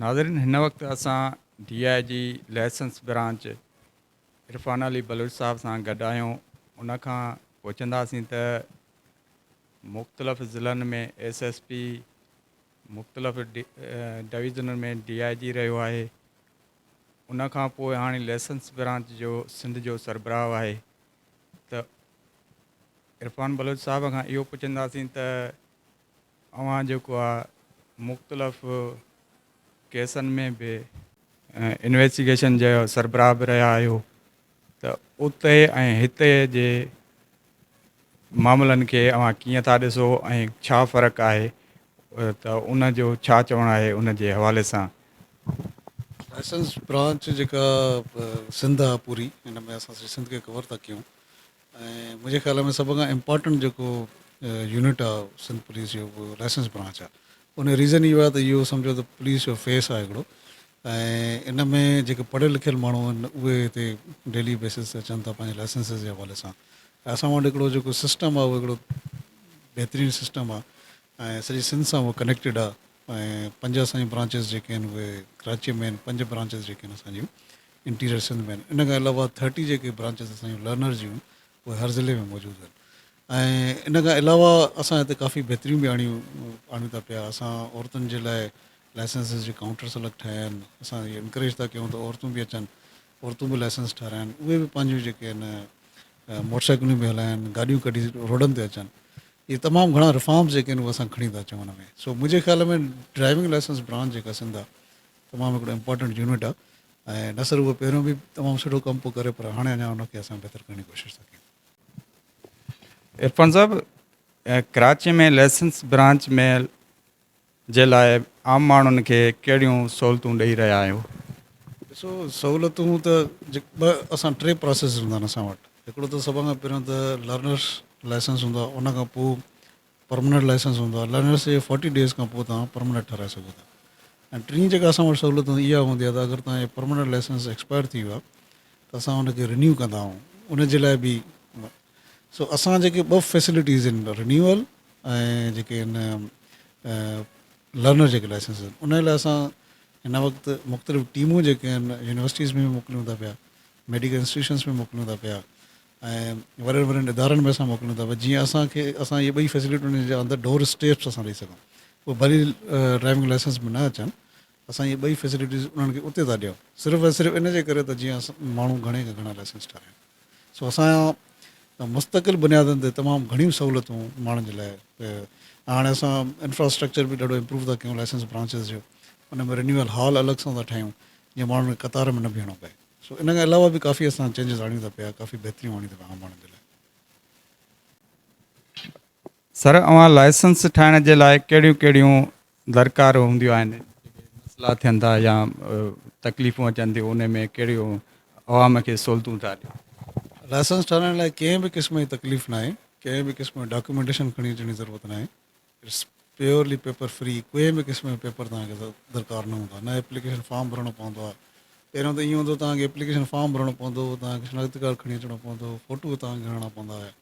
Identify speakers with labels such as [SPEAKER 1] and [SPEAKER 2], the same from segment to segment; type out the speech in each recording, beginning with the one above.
[SPEAKER 1] ناظرين هن وقت اسان D I G licence branch Irfan Ali Baloch sahib سان گڏ آهيون ان کان پڇنداسين ته مختلف ضلعن ۾ ايس ايس پي مختلف ڊويزنن ۾ ڊي آء جي رهيو آهي ان کان پوء هاڻي ليسنس برانچ جو سنڌ جو سربراهه آهي ته عرفان بلوچ صاحب کان اهو پڇنداسين ته اوهان جيڪو آهي مختلف ڪيسن ۾ به انويسٽيگيشن جو سربراهه به رهيا آهيو ته اتي ۽ هتي جي معاملن کي اوهان ڪيئن ٿا ڏسو ۽ ڇا فرق آهي ته ان جو ڇا چوڻ آهي ان جي حوالي سان.
[SPEAKER 2] لائسنس برانچ جيڪا سنڌ آهي پوري ان ۾ اسان سڄي سنڌ کي ڪور ٿا ڪيون ۽ منهنجي خيال ۾ سڀ کان امپارٽنٽ جيڪو يونٽ آهي سنڌ پوليس جو اهو لائسنس برانچ آهي ان جو ريزن اهو آهي ته اهو سمجهو ته پوليس جو فيس آهي هڪڙو ۽ ان ۾ جيڪي پڙهيل لکيل ماڻهو آهن اهي هتي ڊيلي بيسز تي اچن ٿا پنهنجي لائسنس جي حوالي سان ۽ اسان وٽ هڪڙو جيڪو سسٽم آهي اهو هڪڙو بهترين سسٽم آهي ۽ سڄي سنڌ سان اهو ڪنيڪٽيڊ آهي ۽ پنج اسان جون برانچز جيڪي آهن اهي ڪراچيء ۾ آهن پنج برانچز جيڪي آهن اسان جون انٽيريئر سنڌ ۾ آهن ان کان علاوه ٿرٽي جيڪي برانچز اسان جون لرنرز جون اهي هر ضلعي ۾ موجود آهن ۽ ان کان علاوه اسان هتي ڪافي بهتريون به آڻيون آڻيون ٿا پيا اسان عورتن جي لاء لائسنسز جي ڪائونٽرس الڳ ٺاهيا آهن اسان انڪريج ٿا ڪيون ته عورتون به اچن عورتون به لائسنس ٺهرائن اهي به پنهنجون جيڪي آهن موٽر سائيڪلون پيون هلائن، گاڏيون ڪڍي روڊن تي اچن، اهي تمام گهڻا رفارمز جيڪي آهن اهي اسان کڻي ٿا اچون ان ۾، سو منهنجي خيال ۾ ڊرائيونگ لائسنس برانچ جيڪا سنڌ آ تمام هڪڙو امپارٽنٽ يونٽ آ ۽ نه صرف اهو پهريون به تمام سٺو ڪم پيو ڪري پر هاڻي اڃا ان کي اسان بهتر ڪرڻ جي ڪوشش ٿا ڪيون. عرفان صاحب
[SPEAKER 1] ڪراچي ۾ لائسنس برانچ ۾ جي لاء عام ماڻهن کي ڪهڙيون سهولتون ڏئي رهيا آهيو؟ ڏسو
[SPEAKER 2] سهولتون ته ٻه اسان ٽي پراسيس هوندا آهن اسان وٽ هڪڙو ته سڀ کان پهريون ته لرنرس لائسنس هوندو آهي ان کان پوء پرمننٽ لائسنس هوندو آهي لرنرس جي فورٽي ڊيز کان پوء توهان پرمننٽ ٺهرائي سگهو ٿا ۽ ٽين جيڪا اسان وٽ سهولت هوندي اها هوندي آهي ته اگر توهان جو پرمننٽ لائسنس ايڪسپائر ٿي ويو آهي ته اسان ان کي رينيو ڪندا آهيون ان جي لاء به سو اسان جيڪي ٻه فيسلٽيز ان رنيول ۽ جيڪي ان لرنر جيڪي لائسنس ان ان لاء اسان هن وقت مختلف ٽيمون جيڪي ان يونيورسٽيز ۾ به موڪليون ٿا پيا ميڊيڪل انسٽيٽيوشنس ۾ موڪليون ٿا پيا ۽ وڏن وڏن ادارن ۾ اسان موڪليون ٿا پيا جيئن اسان کي اسان اهي ٻئي فيسلٽيون ان جا اندر ڊور اسٽيپس اسان ڏئي سگهون پوء ڀلي ڊرائيونگ لائسنس ۾ نه اچن اسان اهي ٻئي فيسلٽيز انهن کي اتي ٿا ڏيون صرف ۽ صرف ان جي ڪري ته جيئن ماڻهو گهڻي کان گهڻا لائسنس ٺاهرايون سو اسان مستقل بنيادن تي تمام گهڻيون سهولتون ماڻهن جي لاء ۽ هاڻي اسان انفراسٽرڪچر به ڏاڍو امپروو ٿا ڪيون لائسنس برانچز جو ان ۾ رينيول هال الڳ سان ٿا ٺاهيون جيئن ماڻهن کي قطار ۾ نه بيهڻو پئي سو ان کان علاوه به ڪافي اسان چينجز آڻيون ٿا پيا ڪافي بهتريون آڻيون ٿا پيا عام ماڻهن جي لاء.
[SPEAKER 1] سر اوهان لائسنس ٺاهڻ جي لاء ڪهڙيون ڪهڙيون درڪار هونديون آهن جيڪي مسئلا ٿين ٿا يا تڪليفون اچن ٿيون انهي ۾ ڪهڙيون عوام کي سهولتون ٿا ڏين. لائسنس ٺاهرائڻ
[SPEAKER 2] لاء ڪنهن به قسم جي تڪليف ناهي ڪنهن به قسم جو ڊاڪيومينٽيشن کڻي اچڻ جي ضرورت ناهي اٽس پيورلي پيپر فري ڪنهن به قسم جو پيپر توهان کي درڪار نه هوندا نه ايپليڪيشن فارم ڀرڻو پوندو آهي پهريون ته ائين هوندو توهان کي ايپليڪيشن فارم ڀرڻو پوندو توهان کي شناختي ڪارڊ کڻي اچڻو پوندو فوٽو توهان کي هڻڻا پوندا هيا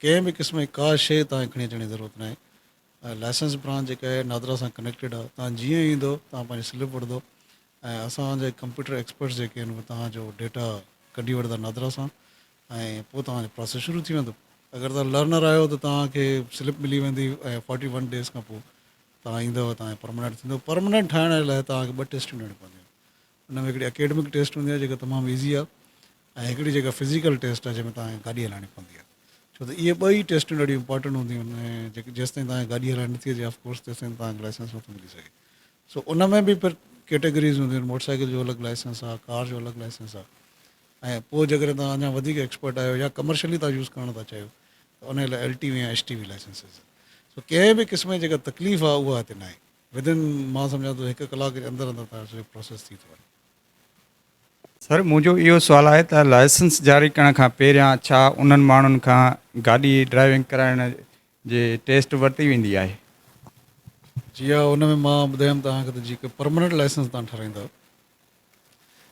[SPEAKER 2] ڪنهن به قسم جي ڪا شيء توهان کي کڻي اچڻ جي ضرورت ناهي. لائسنس برانچ جيڪا اهي نادرا سان ڪنيڪٽيڊ آهي. توهان جيئن ئي ايندو توهان پنهنجي سلپ وٺندو ۽ اسان جي ڪمپيوٽر ايڪسپرٽس جيڪي آهن اهي توهان جو ڊيٽا ڪڍي وٺندا نادرا سان ۽ پوء توهان جو پراسيس شروع ٿي ويندو. اگر توهان لرنر آهيو ته توهان کي سلپ ملي ويندي ۽ فورٽي ون ڊيز کان پوء توهان ايندو توهان جو پرماننٽ ٿيندو. پرماننٽ ٺاهڻ جي لاء توهان کي ٻه ٽيسٽون ڏيڻيون پونديون. ان ۾ هڪڙي اڪيڊمڪ ٽيسٽ هوندي آهي جيڪا تمام ايزي آهي ۽ هڪڙي جيڪا فزيڪل ٽيسٽ آهي جنهن ۾ توهان کي گاڏي هلائڻي پوندي آهي ڇو ته اهي ٻئي ٽيسٽون ڏاڍيون امپارٽنٽ هونديون آهن ۽ جيڪي جيستائين توهان کي گاڏي هلائڻ نٿي اچي آف ڪورس تيستائين توهان کي لائسنس نٿو ملي سگهي سو ان ۾ به پھر ڪيٽيگريز هونديون آهن موٽر سائيڪل جو الڳ لائسنس آهي ڪار جو الڳ لائسنس آهي ۽ پوء جيڪڏهن توهان اڃا وڌيڪ ايڪسپرٽ آهيو يا ڪمرشلي توهان يوز ڪرڻ ٿا چاهيو ته ان لاء ايل ٽي وي يا ايس ٽي وي لائسنس سو ڪنهن به قسم جي جيڪا تڪليف آهي اها هتي ناهي Within مان سمجهان ٿو هڪ ڪلاڪ جي اندر اندر تهنجو سڄو پروسيس ٿي ٿو وڃي.
[SPEAKER 1] سر منهنجو اهو سوال آهي ته لائسنس جاري ڪرڻ کان پهريان ڇا انهن ماڻهن کان گاڏي ڊرائيونگ ڪرائڻ جي ٽيسٽ ورتي ويندي آهي؟
[SPEAKER 2] جي ها ان ۾ مان ٻڌايم توهان کي ته جيڪي پرماننٽ لائسنس توهان ٺهرائيندا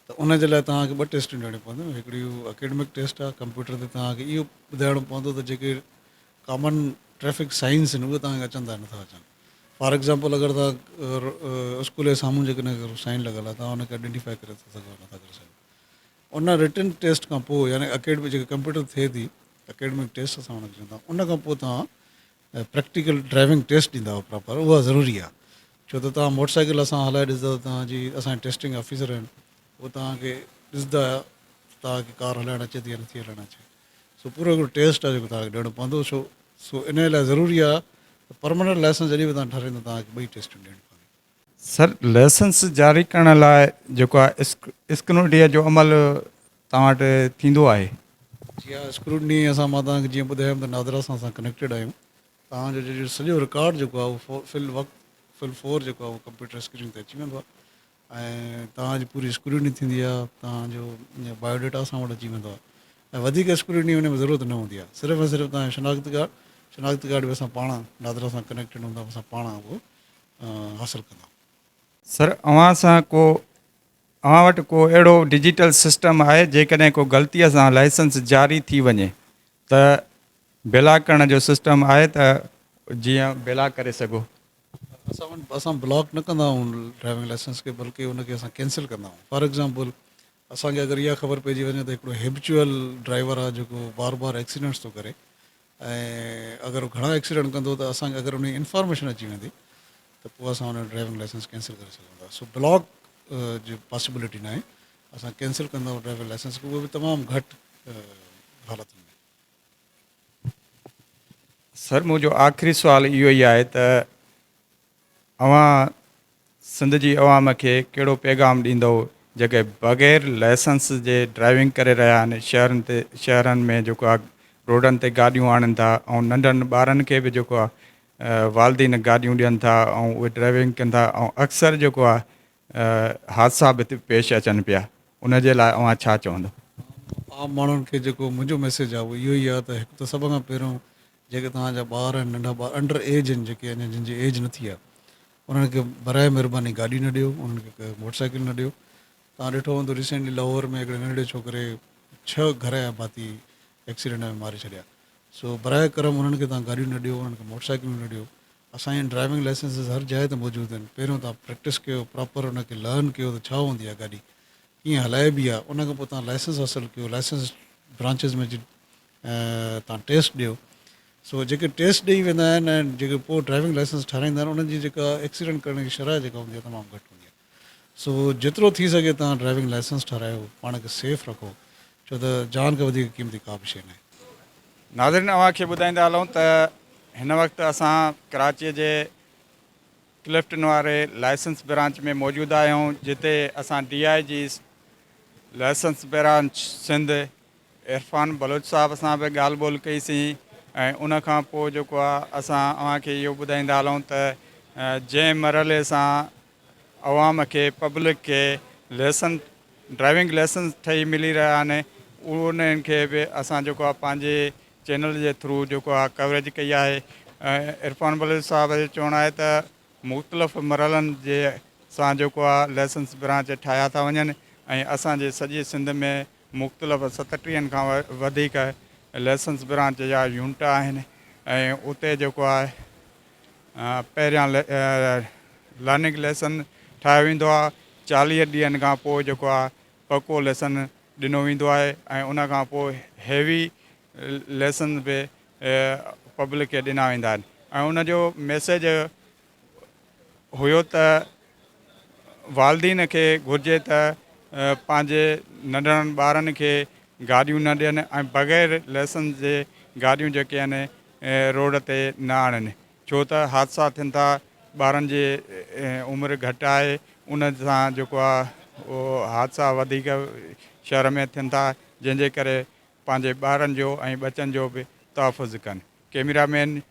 [SPEAKER 2] ته ان جي لاء توهان کي ٻه ٽيسٽون ڏيڻيون پونديون هڪڙي هو اڪيڊمڪ ٽيسٽ آهي ڪمپيوٽر تي توهان کي اهو ٻڌائڻو پوندو ته جيڪي ڪامن ٽريفڪ سائنس آهن اهي توهان کي اچن ٿا يا نٿا اچن فار ايگزامپل اگر توهان اسڪول جي سامهون جيڪڏهن سائن لڳل آهي توهان ان کي ائڊينٽيفائي ڪري ٿا سگهو يا نٿا ڪري سگهو ان رٽن ٽيسٽ کان پوء يعني اڪيڊمڪ جيڪي ڪمپيوٽر تي ٿئي ٿي اڪيڊمڪ ٽيسٽ اسان ان کي چوندا آهيون ان کان پوء توهان ۽ پريڪٽيڪل ڊرائيونگ ٽيسٽ ڏيندا هئا پراپر اها ضروري آهي ڇو ته توهان موٽر سائيڪل اسان هلائي ڏسندا ته توهان جي اسان جي ٽيسٽنگ آفيسر آهن هو توهان کي ڏسندا توهان کي ڪار هلائڻ اچي ٿي يا نٿي هلائڻ اچي سو پورو هڪڙو ٽيسٽ آهي جيڪو توهان کي ڏيڻو پوندو سو سو ان لاء ضروري آهي ته پرماننٽ لائسنس جڏهن به توهان ٺهرائيندا توهان کي ٻئي ٽيسٽون ڏيڻيون پونديون. سر، لائسنس
[SPEAKER 1] جاري ڪرڻ لاء جيڪو آهي اسڪروٽنيء جو عمل توهان وٽ ٿيندو آهي؟ جي ها،
[SPEAKER 2] اسڪروٽني اسان مان توهان کي جيئن ٻڌايم ته نادرا سان اسان ڪنيڪٽيڊ آهيون، توهان جو جيڪو سڄو رڪارڊ جيڪو آهي اهو في الوقت في الفور جيڪو آهي اهو ڪمپيوٽر اسڪرين تي اچي ويندو آهي ۽ توهان جي پوري اسڪروٽني ٿيندي آهي، توهان جو بايو ڊيٽا اسان وٽ اچي ويندو آهي ۽ وڌيڪ اسڪروٽني ان ۾ ضرورت نه هوندي آهي، صرف ۽ صرف توهان جو شناخت ڪارڊ، شناخت ڪارڊ به اسان پاڻ نادرا سان ڪنيڪٽيڊ هوندا اسان پاڻ اهو حاصل ڪندا. سر
[SPEAKER 1] اوهان سان ڪو اوهان وٽ ڪو اهڙو ڊجيٽل سسٽم آهي جيڪڏهن ڪو غلطي سان لائسنس جاري ٿي وڃي ته بلاڪ ڪرڻ جو سسٽم آهي ته جيئن بلاڪ ڪري سگهو. اسان وٽ
[SPEAKER 2] اسان بلاڪ نه ڪندا آهيون ڊرائيونگ لائسنس کي بلڪه ان کي اسان ڪينسل ڪندا آهيون فار ايگزامپل اسان کي اگر اها خبر پئجي وڃي ته هڪڙو هيبچوئل ڊرائيور آ جيڪو بار بار ايڪسيڊنٽس ٿو ڪري ۽ اگر هو گهڻا ايڪسيڊنٽ ڪندو ته اسان کي اگر انهي انفارميشن اچي ويندي ته پوء اسان ان جو ڊرائيونگ لائسنس ڪينسل ڪري سگهون ٿا سو بلاڪ جي پاسيبلٽي ناهي اسان ڪينسل ڪندا آهيون ڊرائيونگ لائسنس کي اهو به تمام گهٽ حالتن ۾. سر منهنجو
[SPEAKER 1] آخري سوال اهو ئي آهي ته اوهان سنڌ جي عوام کي ڪهڙو پيغام ڏيندئو جيڪي بغير لائسنس جي ڊرائيونگ ڪري رهيا آهن شهرن تي شهرن ۾ جيڪو آهي روڊن تي گاڏيون آڻين ٿا ۽ ننڍن ٻارن کي به جيڪو آهي والدين گاڏيون ڏين ٿا ۽ اهي ڊرائيونگ ڪن ٿا ۽ اڪثر جيڪو آهي حادثا به پيش اچن پيا ان جي لاء اوهان ڇا چوندئو. عام ماڻهن
[SPEAKER 2] کي جيڪو منهنجو ميسيج آهي اهو اهو ئي آهي ته هڪ ته سڀ کان پهريون جيڪي توهان جا ٻار آهن ننڍا ٻار انڊر ايج آهن جيڪي اڃا جن جي ايج نه ٿي آهي انهن کي براء مهرباني گاڏي نه ڏيو انهن کي موٽر سائيڪل نه ڏيو توهان ڏٺو هوندو ريسينٽلي لاهور ۾ هڪڙي ننڍڙي ڇوڪري ڇهه گهر يا ڀاتي ايڪسيڊنٽ ۾ ماري ڇڏيا سو براء ڪرم انهن کي توهان گاڏيون نه ڏيو انهن کي موٽر سائيڪلون نه ڏيو اسان جا ڊرائيونگ لائسنسز هر جاء تي موجود آهن پهريون توهان پريڪٽس ڪيو پراپر ان کي لرن ڪيو ته ڇا هوندي آهي گاڏي ڪيئن هلائبي آهي ان کان پوء توهان لائسنس حاصل ڪيو لائسنس برانچز ۾ تان ٽيسٽ ڏيو سو جيڪي ٽيسٽ ڏئي ويندا آهن ۽ جيڪي پوء ڊرائيونگ لائسنس ٺهرائيندا آهن انهن جي جيڪا ايڪسيڊنٽ ڪرڻ جي شرح جيڪا هوندي آهي تمام گهٽ هوندي آهي سو جيترو ٿي سگهي تان ڊرائيونگ لائسنس ٺهرايو پاڻ کي سيف رکو ڇو ته جان کان وڌيڪ قيمتي ڪا به شيء ناهي. ناظرين
[SPEAKER 1] اوهان کي ٻڌائيندا هلون ته هن وقت اسان ڪراچي جي ڪلفٽن واري لائسنس برانچ ۾ موجود آهيون جتي اسان D I G licence branch Sindh Irfan Baloch sahib سان به ڳالهه ٻولهه ڪئي سين ۽ ان کان پوء جيڪو آهي اسان اوهان کي اهو ٻڌائيندا هلون ته جنهن مرحلي سان عوام کي پبلڪ کي ليسن ڊرائيونگ ليسنس ٺهي ملي رهيا آهن انهن کي به اسان جيڪو آهي پنهنجي چينل جي ٿرو جيڪو آهي ڪوريج ڪئي آهي ۽ عرفان بلوچ صاحب جو چوڻ آهي ته مختلف مرحلن جي سان جيڪو آهي ليسنس برانچ ٺاهيا ٿا وڃن ۽ اسان جي سڄي سنڌ ۾ مختلف ستٽيهن کان وڌيڪ ليسنس برانچ جا يونٽ آهن ۽ اتي جيڪو آهي پهريان لرننگ ليسن ٺاهيو ويندو آهي چاليهه ڏينهن کان پوء جيڪو آهي پڪو ليسن ڏنو ويندو آهي ۽ ان کان پوء هيوي ليسن به پبلڪ کي ڏنا ويندا آهن ۽ ان جو ميسيج هيو ته والدين کي گهرجي ته پنهنجي ننڍڙن ٻارن کي گاڏيون نه ڏين ۽ بغير لئسنس جي گاڏيون جيڪي آهن روڊ تي نه آڻين ڇو ته حادثا ٿين ٿا ٻارن جي عمر گهٽ آهي ان سان جيڪو آهي اهو حادثا وڌيڪ شهر ۾ ٿين ٿا جنهن جي ڪري پنهنجي ٻارن جو ۽ ٻچن جو به تحفظ ڪن ڪئميرا مين